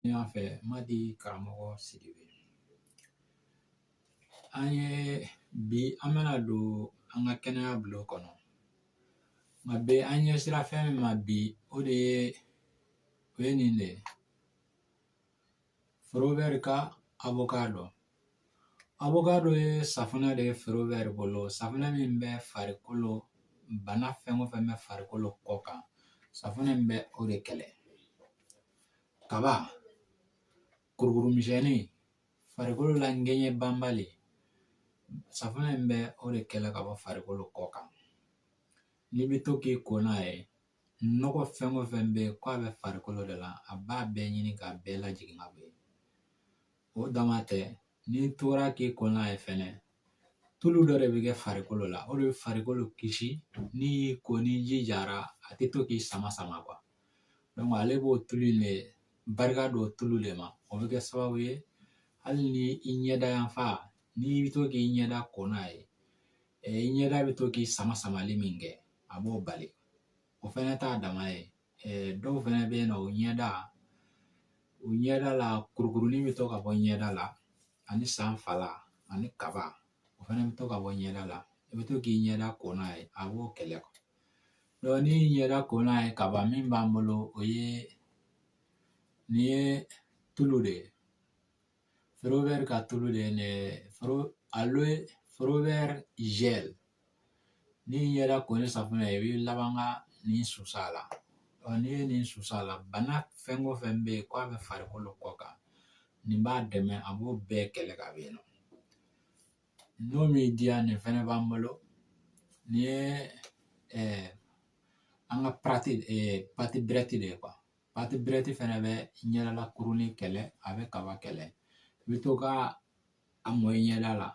ne y'a fɛ madi karamɔgɔ sidibe an ye bi an bɛna don an ka kɛnɛya bulon kɔnɔ nka bi an ɲɛsira fɛn min ma bi o de ye o ye nin de ye forever ka avocado avocado ye safunɛ de ye forever bolo safunɛ min bɛ farikolo bana fɛn o fɛn bɛ farikolo kɔ kan safunɛ in bɛ o de kɛlɛ kaba kurukuru misɛnni farikolo la ŋɛɲɛ banbali safunɛ in bɛ o de kɛlɛ ka bɔ farikolo kɔ kan n'i bɛ to k'i ko n'a ye nɔgɔ fɛn o fɛn bɛ yen k'a bɛ farikolo de la a b'a bɛɛ ɲini k'a bɛɛ lajigin ka bɔ yen o dama tɛ n'i tora k'i ko n'a ye fɛnɛ tulu dɔ de bɛ kɛ farikolo la o de bɛ farikolo kisi n'i y'i ko ni ji jara a tɛ to k'i sama sama ale b'o tulu in de barika don tulu de ma o bɛ kɛ sababu ye hali ni i ɲɛda yanfan n'i bɛ to k'i ɲɛda ko n'a ye i ɲɛda bɛ to k'i sama samali min kɛ a b'o bali o fɛnɛ t'a dama ye dɔw fɛnɛ bɛ yen nɔ u ɲɛda u ɲɛda la kurukurunin bɛ to ka bɔ ɲɛda la ani sanfala ani kaba o fɛnɛ bɛ to ka bɔ ɲɛda la i bɛ to k'i ɲɛda ko n'a ye a b'o kɛlɛ donc n'i y'i ɲɛda ko n'a ye kaba min b'an bolo o ye nin ye tulu de ye forever ka tulu de ye ne foro aloe forever gel n'i y'i ɲɛda ko ni safunɛ ye i bɛ laban ka nin susa a la ɔ n'i ye nin susa a la bana fɛn o fɛn bɛ yen k'a bɛ farikolo kɔ kan nin b'a dɛmɛ a b'o bɛɛ kɛlɛ ka bɔ yen nɔ n'o m'i diya nin fɛnɛ b'an bolo nin ye an ka pâte pâte bright de ye pâte bright fɛnɛ bɛ ɲɛdala kurunin kɛlɛ a bɛ kaba kɛlɛ i bɛ to ka a mɔ i ɲɛda la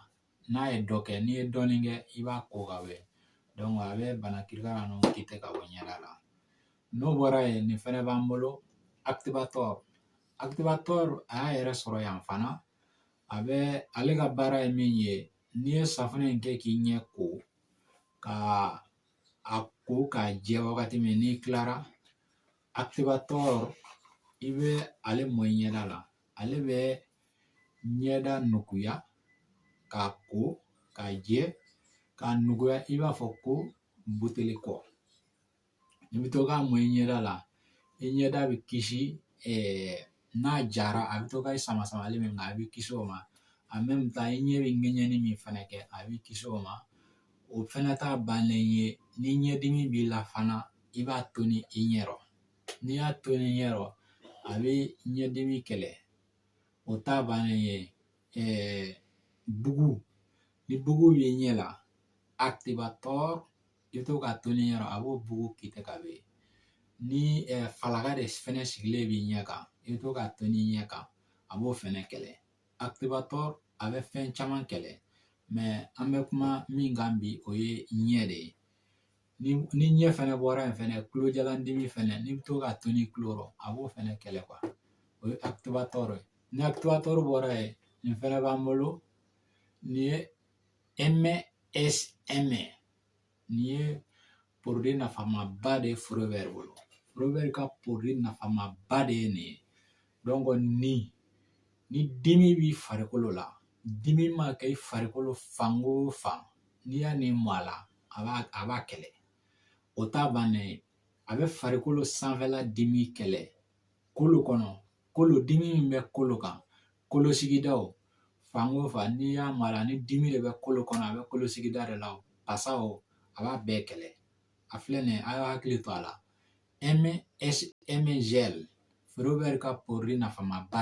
n'a ye dɔ kɛ n'i ye dɔɔnin kɛ i b'a ko ka bɔ yen a bɛ bana kirikara ninnu kite ka bɔ ɲɛda la n'o bɔra yen nin fɛnɛ b'an bolo activator activator a y'a yɛrɛ sɔrɔ yan fana a bɛ ale ka baara ye min ye n'i ye safunɛ in kɛ k'i ɲɛ ko ka a ko k'a jɛ wagati min n'i kilara activator i bɛ ale mɔ i ɲɛda la ale bɛ ɲɛda nuguya k'a ko k'a jɛ k'a nuguya i b'a fɔ ko buteli kɔ i bɛ to k'a mɔ i ɲɛda la i ɲɛda bɛ kisi n'a jara a bɛ to ka sama samali min kɛ a bɛ kisi o ma en même temps i ɲɛ bɛ ŋɛɲɛni min fana kɛ a bɛ kisi o ma o fɛnɛ t'a bannen ye ni ɲɛdimi b'i la fana i b'a toni i ɲɛ rɔ n'i y'a toni i ɲɛ rɔ a bɛ ɲɛdimi kɛlɛ o t'a bannen ye bugu ni bugu b'i ɲɛ la activator i bɛ to k'a toni i ɲɛ rɔ a b'o bugu quitter ka bɔ yen ni falaka de fɛnɛ sigilen b'i ɲɛ kan i bɛ to k'a toni i ɲɛ kan a b'o fɛnɛ kɛlɛ activator a bɛ fɛn caman kɛlɛ mais an bɛ kuma min kan bi o ye ɲɛ de ye ni ɲɛ fɛnɛ bɔra yen fɛnɛ tulojalandimi fɛnɛ n'i bɛ to k'a toni i tulo rɔ a b'o fɛnɛ kɛlɛ o ye activator ye ni activator bɔra yen nin fɛnɛ b'an bolo nin ye msm Nin ye produit nafamaba de ye Forever bolo Forever ka produit nafamaba de ye nin ye donc ni ni dimi b'i farikolo la dimi ma kɛ i farikolo fan o fan n'i y'a nin mɔ a la a b'a a b'a kɛlɛ o t'a bannen ye a bɛ farikolo sanfɛla dimi kɛlɛ kolo kɔnɔ kolo dimi min bɛ kolo kan kolo sigidaw fan o fan n'i y'a mɔ a la ni dimi de bɛ kolo kɔnɔ a bɛ kolo sigida de la o pasa o a b'a bɛɛ kɛlɛ a filɛ nin ye a y'a hakili to a la msm gel Forever ka produit nafamaba